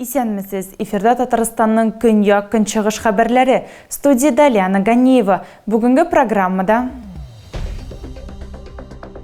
Исәнмесез! Эфирда Татарстанның көньяк-көнчыгыш хәбәрләре. Студиядә Лиана Ганеева. Бүгенге программада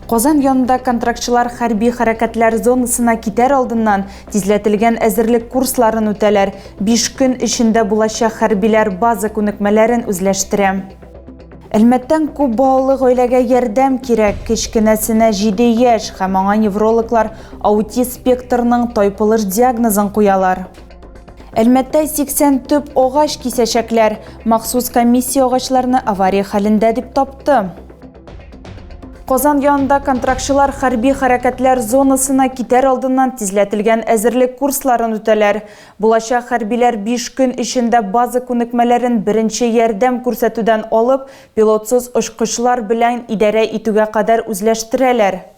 Казан янында контрактчылар хәрби хәрәкәтләр зонасына китәр алдыннан тизләтелгән әзерлек курсларын үтәләр. 5 көн эчендә булачак хәрбиләр база күнекмәләрен үзләштерә. Әлмәттән күп балалы гаиләгә ярдәм кирәк. Кечкенәсенә 7 яшь һәм аңа неврологлар аутист спектрының тайпылыш диагнозын куялар. Әлмәттә 80 төп агач кисәчәкләр. Махсус комиссия агачларны авария хәлендә дип тапты. Казан янында контрактчылар хәрби хәрәкәтләр зонасына китәр алдыннан тизләтелгән әзерлек курсларын үтәләр. Булачак хәрбиләр 5 көн эчендә база күнекмәләрен беренче ярдәм күрсәтүдән алып, пилотсыз очкычлар белән идарә итүгә кадәр үзләштерәләр.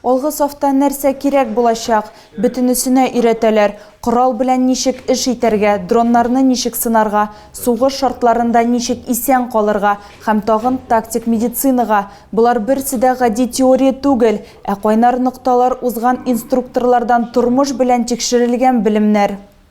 Алгы сафта нәрсә кирәк булачак, бөтенесенә өйрәтәләр, корал белән ничек эш итәргә, дроннарны ничек сынарга, сугыш шартларында ничек исән калырга һәм тагын тактик медицинага. Болар берсе дә гади теория түгел, ә кайнар нокталар узган инструкторлардан тормыш белән тикшерелгән белемнәр.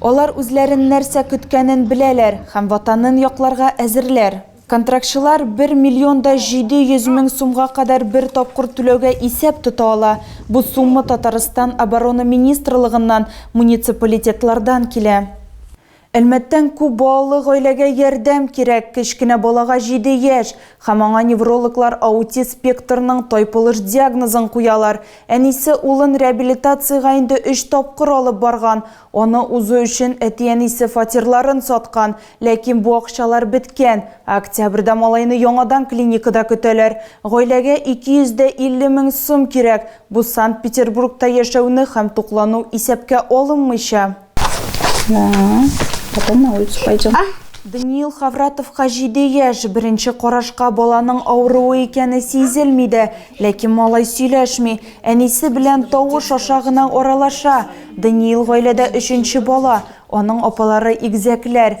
Алар үзләрен нәрсә көткәнен беләләр һәм Ватанын якларга әзерләр. Контрактчылар бер миллион да җиде йөз мең сумга кадәр бер тапкыр түләүгә исәп тота ала, бу сумма Татарстан Оборона министрлыгыннан, муниципалитетлардан килә. Әлмәттән күп балалы гаиләгә ярдәм кирәк, кечкенә балага җиде яшь һәм аңа неврологлар аутист спектрының тайпылыш диагнозын куялар, Әнисе улын реабилитациягә инде өч тапкыр алып барган, аны узу өчен әти-әнисе фатирларын саткан, ләкин бу акчалар беткән. Октябрьдә малайны яңадан клиникада көтәләр. Гаиләгә 250 мең сум кирәк, бу Санкт-Петербургта яшәүне һәм туклану исәпкә алынмыйча. Да. Потом на улицу пойдем. Даниил Хавратовка җиде яшь, беренче карашка баланың авыруы икәне сизелми дә, ләкин малай сөйләшми, әнисе белән тавыш аша гына аралаша. Даниил гаиләдә өченче бала, аның апалары игезәкләр.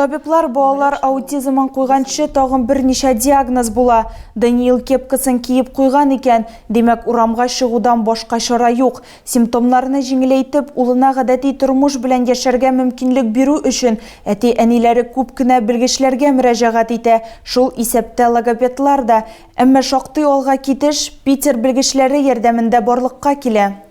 Табиблар балалар аутизмын куйганчы тагын берничә диагноз була. Даниил кепкасын киеп куйган икән, димәк, урамга чыгудан башка чара юк. Симптомнарны җиңеләйтеп, улына гадәти тормыш белән яшәргә мөмкинлек бирү өчен әти-әниләре күп кенә белгечләргә мөрәҗәгать итә, шул исәптә логопедлар да. Әмма шактый алга китеш Питер белгечләре ярдәмендә барлыкка килә.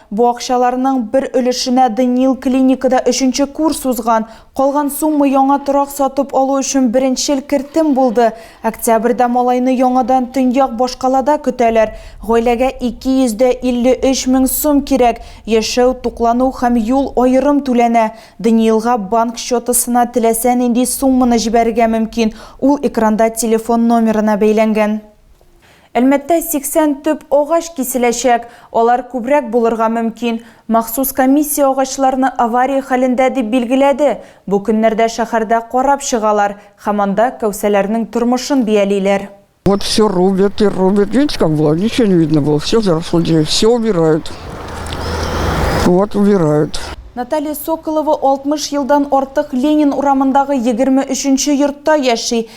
Бу акчаларның бер өлешенә Даниил клиникада өченче курс узган. Калган сумма яңа торак сатып алу өчен беренчел кертем булды. Октябрьдә малайны яңадан Төньяк башкалада көтәләр. Гаиләгә 253 мең сум кирәк, яшәү, туклану һәм юл аерым түләнә. Даниилга банк счетысына теләсә нинди сумманы җибәрергә мөмкин, ул экранда телефон номерына бәйләнгән. Әлмәттә 80 төп агач киселәчәк. Алар күбрәк булырга мөмкин. Махсус комиссия агачларны авария хәлендә дип билгеләде. Бу көннәрдә шәһәрдә карап чыгалар һәм анда кәүсәләрнең тормышын биялиләр. Вот все рубят и рубят видите как было ничего не видно было все заросло все убирают вот убирают. Наталья Соколова 60 елдан артык Ленин урамындагы 23 нче йортта яши.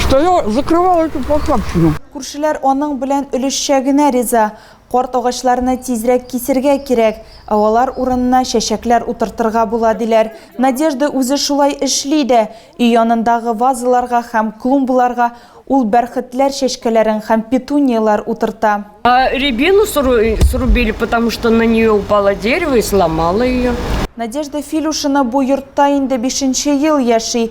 Что я закрывал эту похабщину. Күршеләр аның белән өлешчә генә риза. Карт агачларны тизрәк кисергә кирәк, ә алар урынына чәчәкләр утыртырга була, диләр. Надежда үзе шулай эшли дә. Өй янындагы вазаларга һәм клумбаларга ул бәрхетләр чәчкәләрен һәм петунияләр утырта. Рябину срубили, потому что на нее упало дерево и сломало ее. Надежда Филюшина бу йортта инде бишенче ел яши.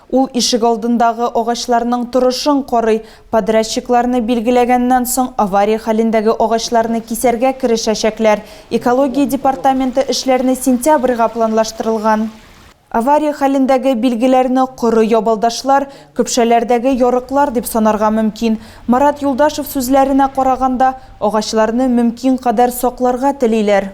Ул ишегалдындагы агачларның торышын карый, подрядчикларны билгеләгәннән соң, авария хәлендәге агачларны кисәргә керешәчәкләр. Экология департаменты эшләрне сентябрьгә планлаштырылган. Авария хәлендәге билгеләрне коры ябалдашлар, көпшәләрдәге ярыклар дип санарга мөмкин. Марат Юлдашев сүзләренә караганда, агачларны мөмкин кадәр сакларга телиләр.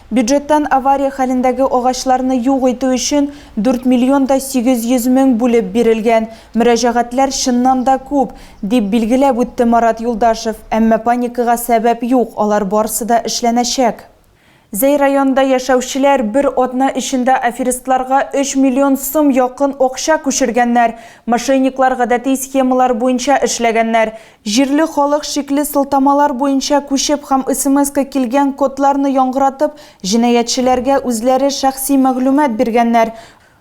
Бюджеттан авария хәлендәге агачларны юк итү өчен 4 миллион да 800 мең бүлеп бирелгән. Мөрәҗәгатьләр чыннан да күп, дип билгеләп үтте Марат Юлдашев. Әмма паникага сәбәп юк, алар барсы да эшләнәчәк. Зәй районында яшәүчеләр бер атна эчендә аферистларга 3 миллион сум якын акча күчергәннәр. Мошенниклар гадәти схемалар буенча эшләгәннәр. Җирле халык шикле сылтамалар буенча күчеп һәм смска килгән кодларны яңгыратып, җинаятьчеләргә үзләре шәхси мәгълүмат биргәннәр.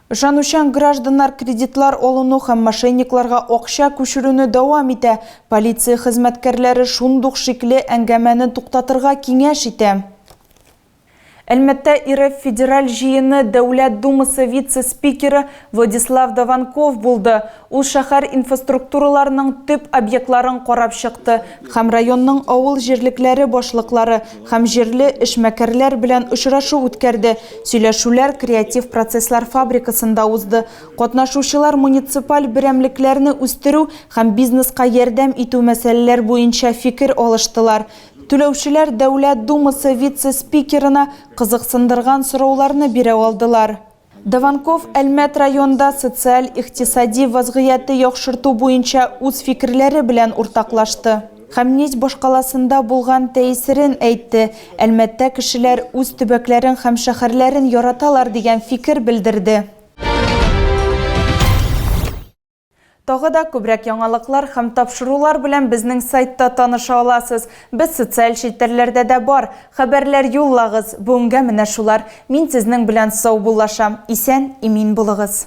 Ышанучан гражданнар кредитлар алуны һәм мошенникларга акча күчерүне дәвам итә. Полиция хезмәткәрләре шундук шикле әңгәмәне туктатырга киңәш итә. Әлмәттә РФ Федераль Җыены Дәүләт Думасы вице-спикеры Владислав Дованков булды. Ул шәһәр инфоструктураларының төп объектларын карап чыкты һәм районның авыл җирлекләре башлыклары һәм җирле эшмәкәрләр белән очрашу үткәрде. Сөйләшүләр Креатив процесслар фабрикасында узды. Катнашучылар муниципаль берәмлекләрне үстерү һәм бизнеска ярдәм итү мәсьәләләр буенча фикер алыштылар. Түләүчеләр Дәүләт Думасы вице-спикерына кызыксындырган сорауларны бирә алдылар. Дованков Әлмәт районында социаль-икътисади вазгыяте яхшырту буенча үз фикерләре белән уртаклашты һәм Нить башкаласында булган тәэсирен әйтте, Әлмәттә кешеләр үз төбәкләрен һәм шәһәрләрен яраталар дигән фикер белдерде. Тагы да күбрәк яңалыклар һәм тапшырулар белән безнең сайтта таныша аласыз. Без социаль челтәрләрдә дә бар. Хәбәрләр юллагыз. Бүгенгә менә шулар. Мин сезнең белән саубуллашам. Исән, имин булыгыз.